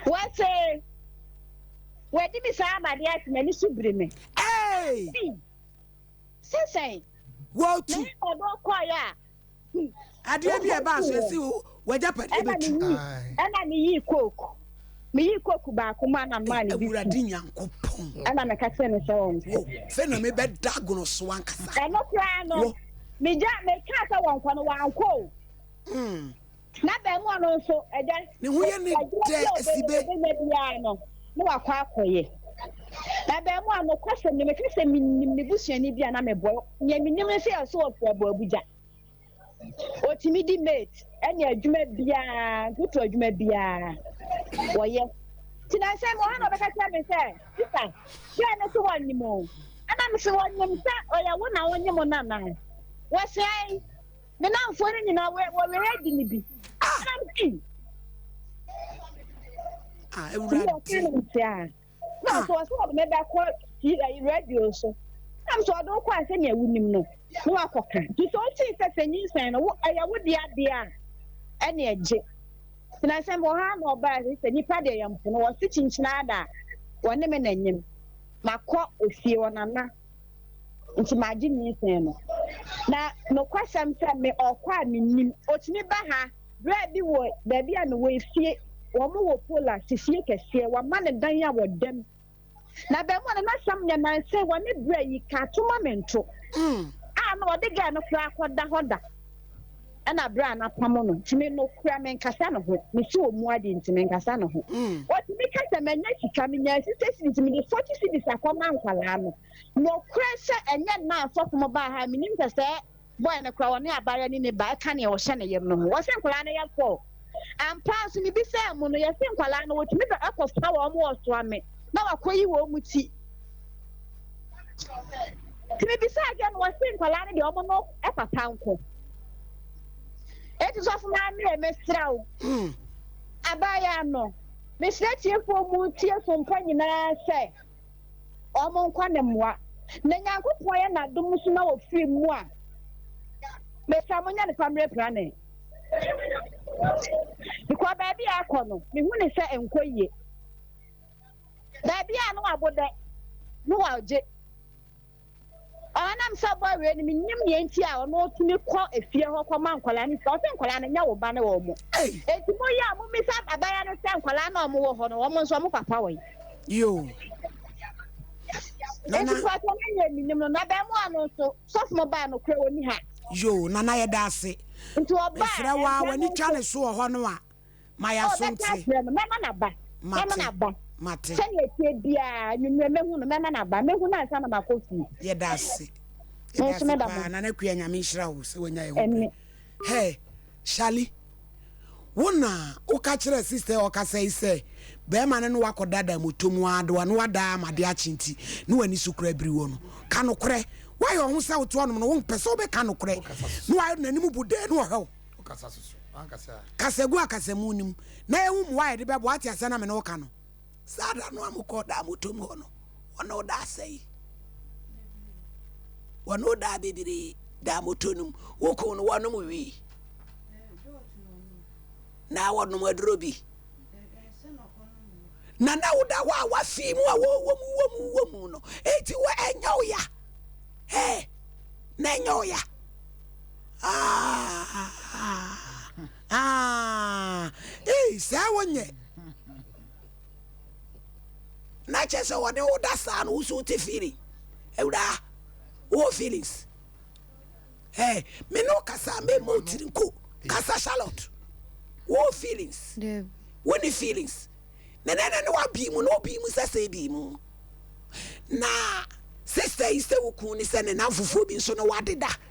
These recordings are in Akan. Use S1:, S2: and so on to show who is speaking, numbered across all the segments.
S1: Wɔse wɔadi me saa abade ase na ani so biri me. Hey! Bi sɛ sɛn? Wɔtu.
S2: Me ɔdɔ
S1: kɔe a.
S2: Adeɛ bi a ɛbaa so ɛsi wo w'agyapadeɛ bɛtu.
S1: Ɛna me yii kooku. Me yii kooku baako mu ana maa ne bi tu. Awurade Nyankopɔn. Ɛna meka kyerɛ ne sɛ wɔn kɔ. Sɛ na mebɛda
S2: agono so ankasa. Ɛno koraa no.
S1: Megya meka sɛ wɔn kɔ no wɔn kɔ o. Hmm. N'abarimaa no nso dɛ, Ne ho yɛ no dɛ dɛ si be. Obenya biara no, na wakɔ akɔyɛ. N'abarimaa no, nokwasɛm ni, meka sɛ minim ne busuani bi a na mebɔ. Nea minim ne sɛ yɛ so wɔ Frɛbo Abuja. Otumi di mate ɛne adwuma biara, nkutu adwuma biara wɔyɛ. Ti na nsɛm wɔ ha na ɔbɛka kyerɛ me sɛ, Sisa, bɛɛ no so wɔnim o. Ɛna me se wɔnim sɛ ɔyɛ wo na wɔnye mo nana. Wɔsua yi. Me nnamfoɔ no nyinaa wɔwee adi no bi. Ah! Ɛna me sɛ, Ah, Awurade. Ɛna ɔka no nti a. Na ɔsɛ ɔsɛ ɔde me bɛkɔ radio so. Na me sɛ ɔde wokɔ a sɛnea wonim no, na wakɔka. Nti sɛ ɔtee sɛ sɛ nyinsɛn no, ɛyɛ wo de adeɛ a, ɛne ɛgye. Tena sɛ mbɔ ha na ɔbaa sɛ nipa deɛ yɛ mpono, wɔse kyinkyinaa da a, wɔne me na nyem. Makɔ ofie wɔ nana. nti magye nyinsɛn no. Na nokwasɛm sɛ me ɔkɔ a minnim. Otumi ba ha berɛ bi wɔ baabi a mewɔ efie. Wɔwɔ Poland, efie kɛseɛ. Wɔama no dan a wɔda mu. Na abarimaa no n'asɛm nyɛ nanse wɔ ne berɛ yi, ka to ma me nto. A na ɔde gɛɛ no koraa kɔda hɔ da. ɛna berɛ a n'apamo no nti me nokorɛ menkasa ne ho mesi wɔ mu ade nti menkasa ne ho mm. ɔti meka sɛ manya sika menya asisɛsi nti mede fɔti si bisa kɔma nkwalaa no nokorɛ sɛ ɛnyɛ nna asɔfo mo baa ha menim sɛ sɛ bɔɛ no kora wɔne abaeɛ ne ne ba ɛka neɛ wɔhyɛ ne yam no ho wɔ sɛ nkwalaa no yɛ fɔɔ Ampa ara nso, mibisaa mu no, yɛse nkwadaa no wotumi ba bɛkɔfa wɔn wɔ Soame na wɔakɔyi wɔn ti. Nti mibisaa adwene no, wɔse nkwadaa no deɛ wɔn no papa nko. Eti sɔfo maame mesrɛ wo. Hmm. Abaayaa no, mesrɛ tiefoɔ mu tiefo mpa nyinaa sɛ wɔn nkɔ ne mmoa. Na Nyankopɔn yɛ n'adom so na wɔfiri mu a, mesrɛ mo nyɛ ne family planning. Bikɔ baabi a ɛkɔ no, mehu ne sɛ ɛnkɔ yie. Baabi a no wabo dɛ, no wa gye. Ɔnam sɛ bɔ awie no, menim nea nti a ɔno tumi kɔ efie hɔ kɔma nkwadaa no sika. Ɔsɛ nkwadaa no nyɛ wo ba ne wɔn mo. Eti mo yɛ a mo misa abaya no sɛ nkwadaa no a wɔn wɔ hɔ no, wɔn nso wɔn papa wɔn. Yoo. Nana. Eti pɔtɔ no yɛ minim no, na bɛn mo ano nso. Sɔfo no baa nokorɛ wɔ ni ha. Yoo nana yɛda
S2: ase mesrɛ
S1: wo a wani twa
S2: ne so wɔ hɔ no a ma yasom te
S1: mate mate yɛda ase yɛda ase
S2: paa nana kua nyame nhyira wo sɛ wanya yɛ ho pɛ hɛ shali Wo na wo ka kyerɛɛ sister a ɔkasa yi sɛ bɛɛma no ne wo akɔ dada mu tɔ mu aa de wa ne wada ama ade akye nti ne w'ani so kura biri wɔ no. Ka nokorɛ. W'ayɛ wo ho sɛ wo te hɔnom no wo mpɛ sɛ wo bɛ ka nokorɛ ne w'ayɛ n'anim bu dɛɛ ne ɔhwɛ wo.
S3: Kasa gu akasamu
S2: no mu na yɛhu mmoa a yɛde bɛboa wo. W'ate aseɛ na me ne wo ka no. Saa da no a mokɔɔ daa motom hɔ no, wɔne wo daa sɛe. Wɔne wo daa bebree daa moto no mu. Wokum no, wɔnom wii. Na wɔnom aduro bi. Na na woda hɔ a wafi mu a wɔwɔ mu wɔ mu wɔ mu no, enti wɔ ɛnyɛ wo ya. Hey, na ɛnyɛ wo ya. Ah, ah, ah. Hey, saa wɔnyɛ. na kyɛ sɛ wɔne wo da saa no woso wote feeling awuraa wowɔ feelings hey, me ne wo kasa mɛma wo tiri nko kasa charlotte wowɔ feelings woni feelings na na na ne wabii mu na obii mu sɛ sɛ bii mu na sister yi sɛ wo kun ne sɛ ne namfofoɔ bi nso ne wadeda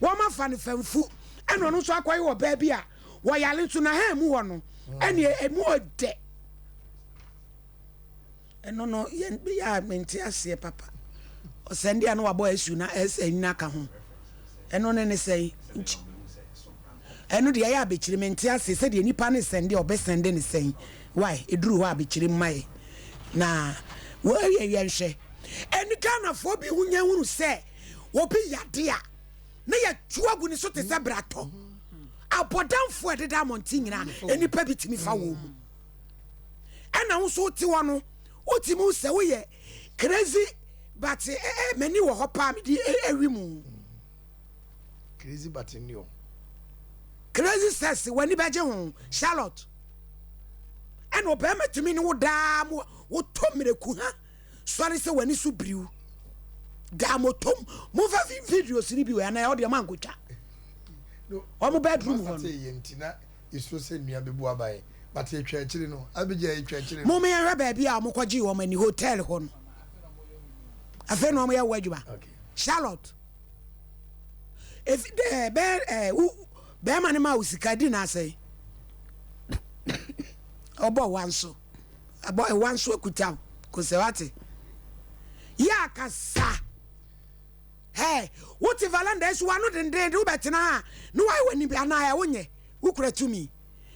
S3: Wɔma fa no
S2: famfu ɛna ɔno nso akɔye wɔ baa bi a wɔyale nso na hɛn mu hɔ no ɛne ɛmu ɔdɛ. Ɛno no yɛn bɛyɛ a mente aseɛ papa. Ɔsɛn deɛ no wabɔ ɛsu na ɛsɛn nyina ka ho. Ɛno ne ne sɛn nti. Ɛno deɛ ɛyɛ abɛkyire mente aseɛ sɛ deɛ nipa ne sɛn deɛ ɔbɛsɛn de ne sɛn why ɛduru hɔ abɛkyire mma yɛ na wei yɛ yɛnhwɛ ɛne Ghanafoɔ bi ho nyɛ hunu sɛ. Obi yade a, na yɛtwe agu ne so te sɛ bratɔ. Abɔdamfo a ɛdeda mmɔnten nyinaa, nnipa bi tumi fa wɔn mu. Ɛna wo nso wote hɔ no, wotumi hu sɛ woyɛ crazy but eh, eh, eh m'ani wɔ hɔ paa mede eh, eh, awi mu.
S3: Crazy but nni hɔ.
S2: Crazy sex w'ani bɛgye ho Charlotte. Ɛna ɔbarima tumi ne wo daa mu wotɔ mmireku ha. sɔre sɛ w'ani so biriw da motom momfa videos no bi wɔ anaa ɔde ɔma nkotwa wɔn bedroom hɔ no yɛsuro
S3: sɛ nnua bɛbu abaeɛ but yɛtwa akyiri no abigya yɛtwa akyiri no moma yɛhwɛ baabi a
S2: wɔkɔgyee wɔn ani hotel hɔ no afei na wɔyɛ wɔ adwuma charlotte efi dɛ bɛɛ bɛrima no ma wo sika di n'asɛe ɔbɔ wa nso Ɛbɔ ɛwa nso akuta wo. Kosɛ wate. Yɛ akasa. Hey, wote valanda yi so wano denden de wobɛtena ha na wayɛ w'ani bi anaa ɛ wonyɛ wokura tumi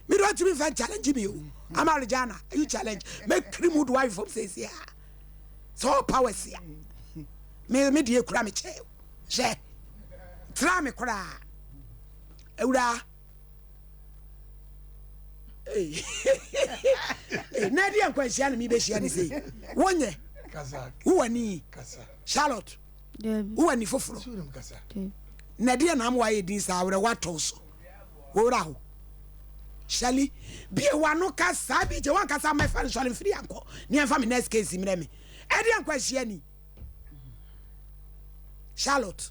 S2: mede watumi mfa challenge me o ama Regina you challenge mɛkiri mu de wayi fam sɛsi a sɛ ɔpa wasi a me me deɛ kura me kyɛ hwɛ tra me koraa awura na ɛde yɛ nkwanhyia na mebɛhyia ne sei wonyɛ
S3: wowani charlotte
S2: wowani foforɔ
S3: na ɛdeɛ
S2: na ama wayɛ din saa werɛ woatɔ so wowra ho hyɛli bie wano ka saa bi gye wankasa mɛfa no sɔre mfiri ankɔ ne ɛmfa me next case mmerɛ me ɛdeɛ nkwanhyia ni charlotte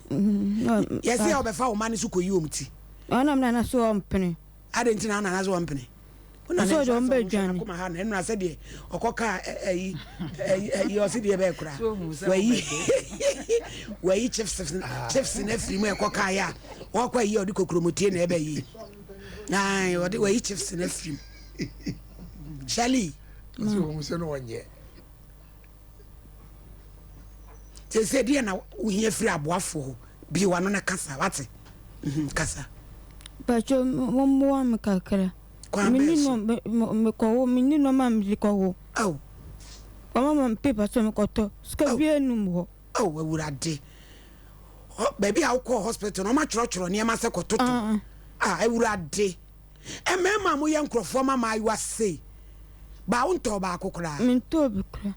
S2: Mm-hmm.
S4: yɛsɛ ɔbɛfa wo
S2: ma no so kɔyi ɔm ti ɔnam na na so
S4: ɔmpene adɛn nti na ana na
S2: so ɔmpene wonanɛkoma
S4: ha no ɛnora sɛdeɛ
S2: ɔkɔkaa ayi ayi ɔse deɛ bɛɛ kora wayi wayi chips chips no afiri mu ɛkɔkaa yɛ a ɔkɔ ayi ɔde kokoromotie na ɛbɛyi ae ɔde wayi chips no afiri mu shali sɛ
S3: ɔhu sɛ no ɔnyɛ
S2: Sese deɛ na wohia firi aboafoɔ hɔ bie wano na kasa wate mhm kasa. Pacho
S4: mo mmoa me kakra. Kwan bɛɛ so. Me kɔ hɔ me ni nɔma me de kɔ hɔ. Aw.
S2: Wɔn ma me
S4: paper so me kɔtɔ sika bi enum hɔ. Aw awurade.
S2: Hɔ baabi a wokɔ hospital na wɔn atwerɛtwerɛ nneɛma sɛ kɔtotɔ. Ah awurade. Mmarima a moyɛ nkurɔfoɔ ma mmaayewa sei, baa wontɔɔ baako koraa? Mentɔɔ bi
S4: koraa.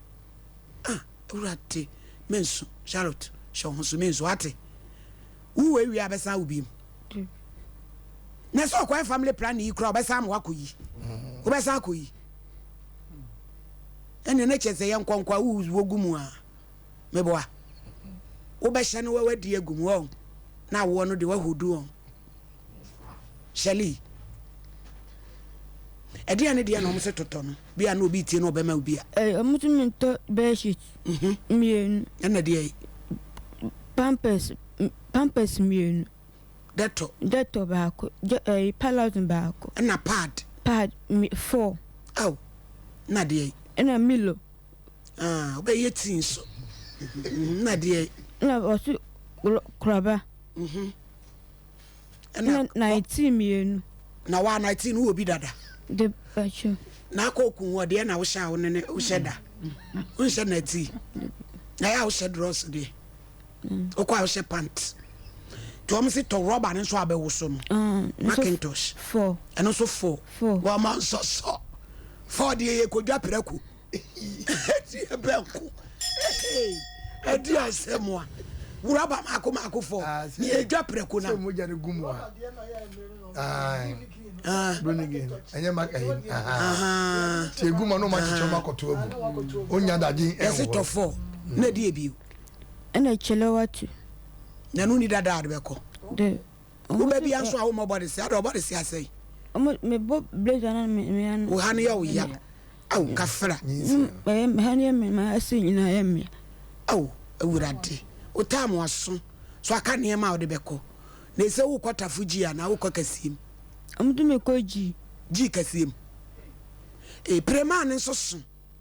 S4: Ah,
S2: Awurade, menso. Charlotte, hyɛ wo ho so, menso, woate? Wowu wei wie a, bɛsan awo bio. Na ɛsɛ ɔkɔyɛ family planning yi koraa, ɔbɛsan ama wakɔ yi. Wobɛsan akɔ yi. Ɛnna na kyerɛ sɛ yɛn nkɔnkɔ a wowu gu mu a, meboa. Wobɛhyɛ no wawadi agu mu wɔn, na awoɔ no de wahudu wɔn. Shirley, ɛdeɛ ne deɛ na wɔn se totɔ no bi a na obi tie na ɔbɛma obi a. Ɛɛ wɔn tumi ntɔ
S4: bedsheet mhm. mmienu. ɛna deɛ yi.
S2: pampers
S4: pampers mmienu. dɛtɔ.
S2: dɛtɔ baako
S4: jɛ ɛɛ palazon baako. ɛna pad.
S2: pad mi four.
S4: aw
S2: na deɛ yi. ɛna milo.
S4: aa ah,
S2: ɔbɛyɛ tii nso mhm, na deɛ yi. ɛna ɔsi
S4: kuraba. Mhm. ɛna naetii mmienu na waa naetii
S2: no wɔ bi dada de bɛtwo
S4: na akɔ okun wɔ
S2: deɛ na wohyɛ a wo ne ne wohyɛ da wonhyɛ naetii na yɛ a wohyɛ drɔs deɛ wokɔ a wohyɛ pant nti wɔn si tɔ rɔba no nso abɛwo so no macintosh ɛno nso
S4: fo
S2: wɔn nsɔsɔ fo deɛ yɛ kodwa prɛko. ɛti ɛbɛnko ɛdi asɛm a wuraba mako mako fɔ ah, ni edwa prɛko na. sɛ mo gya de gu mu a
S3: bronigin ɛnyɛ maka yi ti egu mu a n'o kyekyɛ ɔmo akɔto agu o nya dade ɛwɔ. yɛsi tɔfɔ
S2: na ɛdi ebi o. ɛna
S4: kyelewatu. na n'o ni
S2: dada de bɛ kɔ.
S4: Wo ba bia
S2: nso a womɔ bɔde se ada ɔbɔde se asɛe. Me bɔ
S4: blazer na me me ano. Wo ha no yɛ wo ya.
S2: Awo kafra. Me ha
S4: no yɛ me ma ase nyinaa yɛ me. Awo
S2: awurade wo taa mo aso so aka nneɛma a wode bɛkɔ na ɛsɛ wokɔ tafo gyi anaa wokɔ kasiem. Ɔmo de me kɔ
S4: gyi. Gyi kasiem.
S2: Ee premaa no nso so.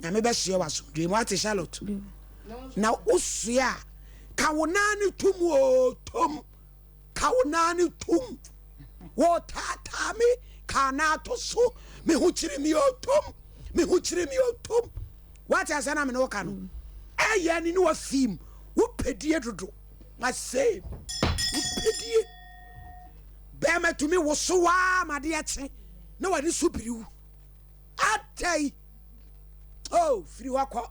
S2: Nyame bɛsoɛ w'asomdwoe mu ate Charlotte na wosoɛ a ka wo nan no tom oo tom ka wo nan no tom wɔtaataa me ka na ato so me ho kyiri me oo tom me ho kyiri me oo tom wate asɛ na me ne woka no ɛyɛ ne ne wafim wopɛdie dodo masɛ wopɛdie bɛrima tumi woso waa ma de akye na w'ani so biriw. Atɛn! Oh, firi hɔ kɔ.